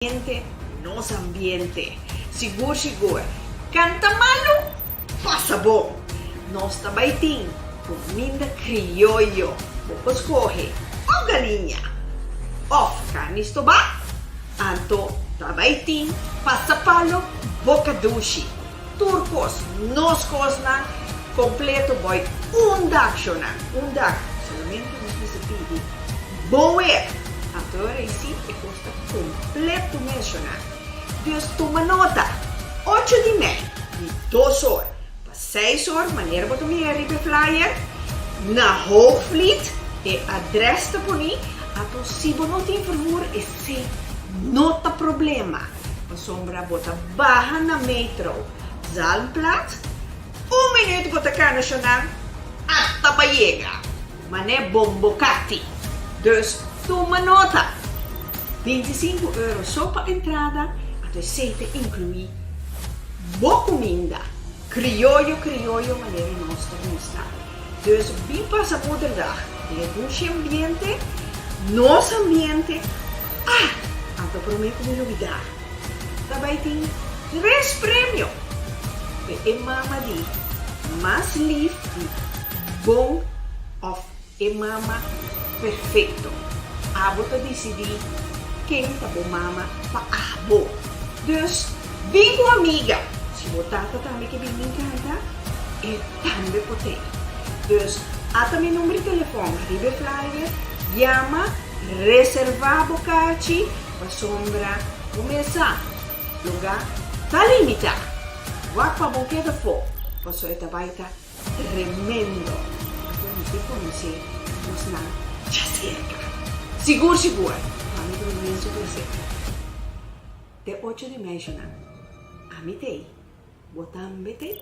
Ambiente, nos ambiente. Sigur sigur. Canta malu? Pasa bo! Nos ta bay tin cominda crioyo. Bo por scoge of galiña of carni stobá. Anto ta bay tin pasa palo, boca dushi, tur cos, nos cosnan completo boy unda chonan, unda. Solamente nos bisa pidi boer. Anto e rey sí e. Completo mentiona. Dios tuma nota, ocho di mei, di dos or pa seis or, manera bo ta mira riba e flyer, na Hoogvliet, e adres ta poni ato si bo no tin vervoer esei no ta problema pasobra bo ta baha na metro Zalmplaats un minuut bo ta cana shona a ta bayega. Man'e bombo kati. Dus tuma nota! Binti i sinku euro so pa entrada, ato esei ta inkluí bo kuminda, krioyo krioyo manera nos ta gusta. Dus bin pasa Moederdag den e bushi ambiente, nos ambiente, ah! Anto promé ku mi lubidá, ta bai tin tres premio p'e mama di mas lif di bon of e mama perfecto. Abo ta dicidi ken ta bo mama pa abo. Dus bin cu amiga. Si bo tata tambe ke bin bin canta e tambe por te. Dus ata mi number di telefon ariba e flyer, yama, reserva bo cachi pasobra bo mes sa. Lunga ta limita. Wak pa bo keda fo, paso e ta bai ta tremendo. Anto nos tin ku nosé nos nan dja serka. Sigur sigur, mami ta durmi en su plasenta. Te ocho di meishunan, ami ta ei, bo tambe ta ei.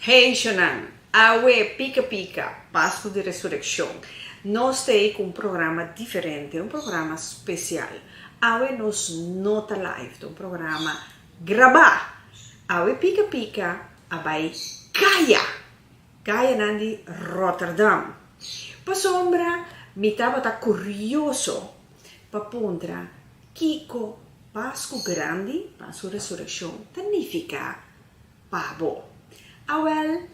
Haitianan, Awe, pika pika, Pasku di Resurekshon, nos ta ei ku un programa diferente, un programa spesial. Awe nos no ta live, ta un programa grabá. Awe pika pika a bai kaya, kayanan di Rotterdam. Pasobra mi tabata kurioso pa puntra kiko Pasku Grandi, Pasku Resurekshon, ta nifiká. pa bo. Awel,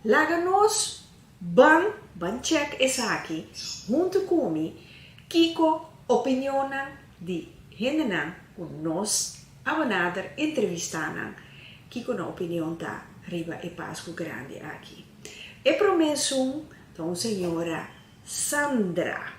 laga nos ban ban check esaki huntu cu mi kico opinionnan di hendenan cu nos a benader, entrevistanan, kico nan opinion ta riba e Pascu Grandi aki. E prome sun ta un señora Sandra.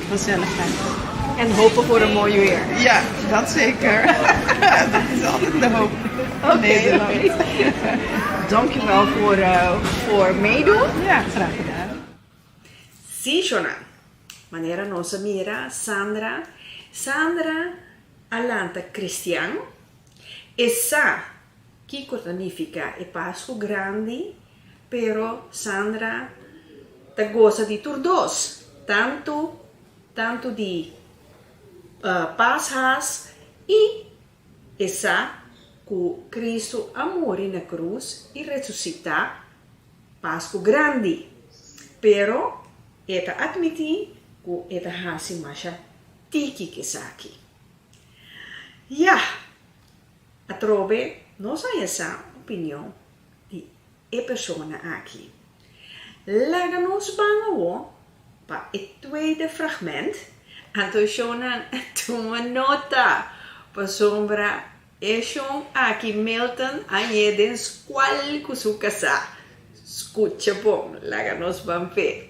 Gezelligheid. En hopen voor een mooi weer. Ja, dat zeker. Dat is altijd de hoop in Nederland. Oké. Dank u wel voor, voor meedoen. Ja, graag gedaan. Sí, Jonan. Manera nos a mira Sandra, Sandra a lanta cristian. E sa kiko ta nifica e Pascu Grandi. Pero Sandra ta gosa di tur dos, tantu tantu di pas haas i e sa ku Kristu a muri na krus i resusitá Pasku Grandi. Pero e ta atmití ku e ta hasi masha tiki ku esaki. Yah! Atrobe nos a haya sa opinion. di e persona aki. Laga nos ban awo pa e tweede fragment, anto shownan tuma nota pasobra e show aki Milton a yé den skual ku su kasá. Skucha bon, laga nos ban fe.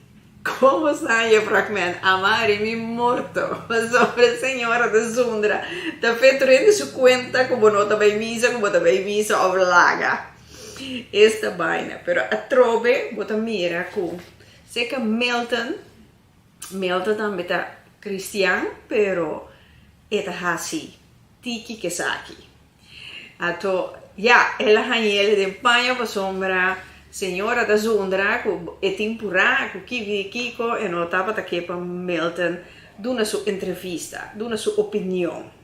Como sa e fragment Amari mi morto pasobra señora ta zundra ta feto rende su cuenta cu bo no ta bay misa cu bo ta bay misa of laga esta bayna pero atrobe bo ta mira cu seca Milton Milton tambe ta cristian pero e ta haci tiki kesaki. Ato, ya, el a hañ'el den paña pasobra señora ta zundra cu e tin purá cu kivi di kico e no tabata ke pa Milton duna su entrevista, duna su opinion.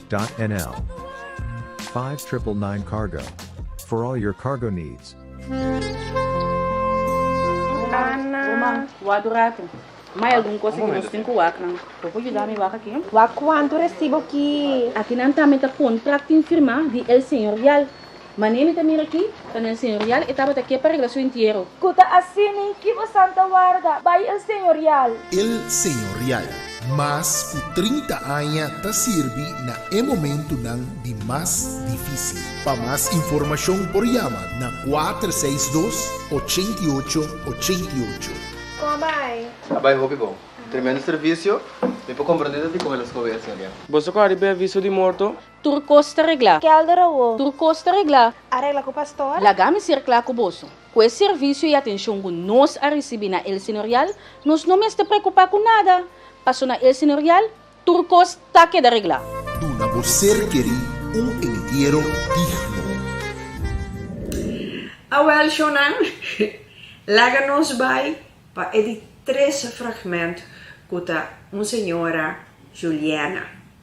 Nl. Five Triple Nine Cargo, for all your cargo needs. Ana, Wak dura tu. Ma hay algun cosa que nos tin cu wak nan. Bo por yuda mi wak aki? Wak cuanto recibo ki? Aki nan ta mi ta contract tin firma di El Señor Yal. Mane mi ta mira aki, ta na el señorial, e tabata ke pa regla su entiero. Ku ta así nin ki bo santa warda, bai el señorial. El señorial, mas ku trinta aña ta sirbi na e momentunan di mas difísil. Pa mas informashon por yama na kuater seis dos, ochenta i ocho, ochenta i ocho. Kon a bai? A bai hopi bon. Tremendo servisio. Mi por komprende tabata di kon el a skohe el señorial. Boso kòrda di be aviso di morto? Tur kos ta reglá. Kelder awo. Tur kos ta reglá. A regla ku pastor. Laga mi ser kla ku boso. Ku e servisio i atenshon ku nos a risibí na El Señorial, nos no mester preokupá ku nada, paso na El Señorial tur kos ta keda reglá. Duna bo ser kerí un entiero digno. Awèl shownan, laga nos bai pa e di tres fragment ku ta Un Señora Juliana.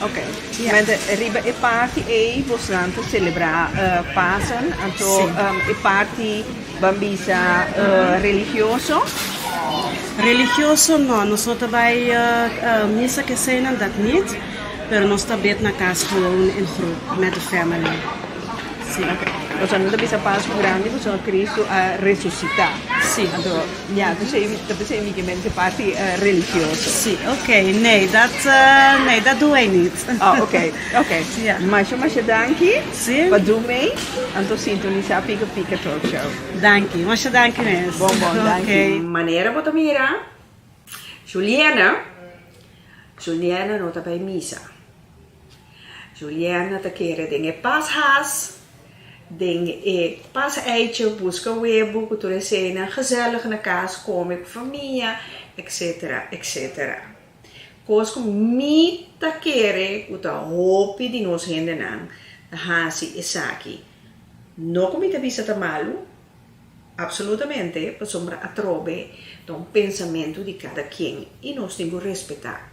Oke, mente riba e party ei bosnan ta celebra Pasen, anto e party ban bisa religioso? Religioso no, noso ta bai misa keseynan dat nit, pero nos ta bid na cas gewoon en groep met de family. Si. Oke, boso no ta bisa Pascu Grandi boso Cristu a resucita. Si. Ya, ta p'esei ta p'esei mi ke men te parti religioso. Si, ok. Nee, dat nee, dat doe ei nit. Ah, ok, ok. Ya. Masha masha danki Si. pa dun mei. Anto sintonisá Pika Pika Talk Show. Danki, masha danki mes. Bon bon, danki. Ok. Manera bo ta mira, Juliana, Juliana no ta bai misa. Juliana ta kere den e pas haas, den e pas eitje, buska webu ku tur eseinan, gezellig na kas kome ku famia, etc. Etc. Kos ku mi ta kere ku ta hopi di nos hendenan ta hasi esaki. No ku mi ta bisa ta malu, apsolutamente, pasobra atrobe ta un pensamentu di kada kien i nos tin ku respetá.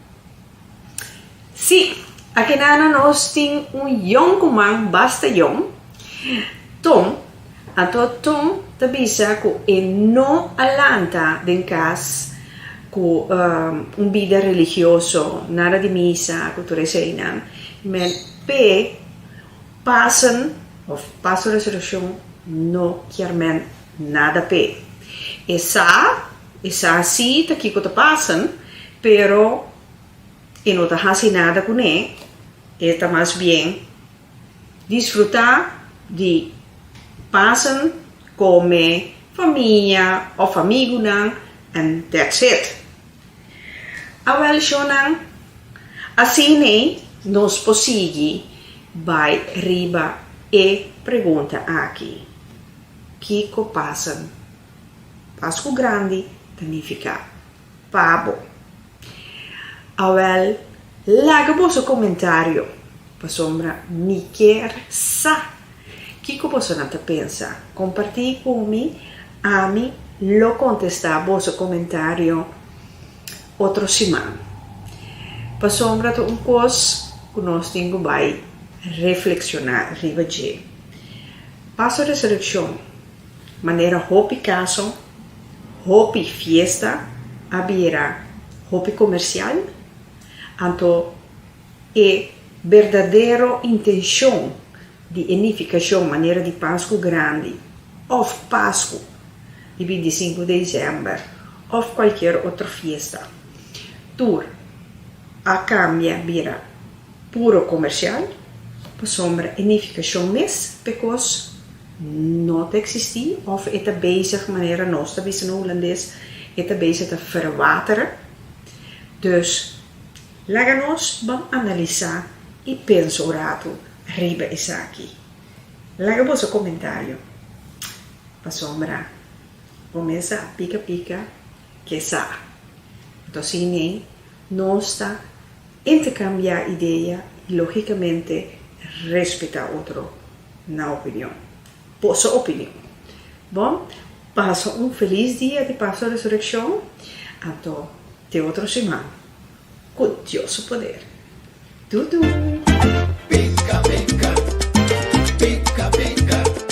Sí, akenana nos tin un yon kuman basta yon, Tom. Anto Tom ta bisa ku e no a lanta den kas ku un bida religioso, nada di misa ku tur eseinan, men p'e Pasen òf Pasen Resurekshon no kier men nada p'e. E sa. E sa si ta kiko ta pasan, pero e no ta hasi nada kuné, e ta mas bien disfrutá di pasan kome famia òf amigunan en that's it. Awèl shonnan, asina ei nos por sigui bai riba e pregunta aki, Kiko pasan? Pascu Grandi ta nifiká Pabo. Awèl, laga boso komentario pasobra mi kier sa kiko bosonan ta pensa. Kompartí ku mi, ami lo kontestá boso komentario otro siman. Pasobra ta un kos ku nos tin ku bai reflekshoná riba dje. Paso Resurekshon. Manera hopi kaso, hopi fiesta a bira hopi komersial, anto e berdadero intenshon di e nifikashon manera di Pasku Grandi òf Pasku di binti i sinku Desèmber òf kualkier otro fiesta tur a kambia bira puro komersial pasobra e nifikashon mes pe kos No ta existí of e ta bezig, manera nos ta bisa na Hulandes, e ta bezig ta verwateren. Dus laga nos ban analisá i pensa un ratu riba esaki. Laga boso komentario. Pasobra bo mesa a pika pika ke sa. Anto si nei nos ta. Interkambiá idea i lógikamente respetá otro na opinion. Boso opinion. Bò, pasa un felis dia di Paso Resurekshon, anto te otro siman ku Dios su poder. Tudu!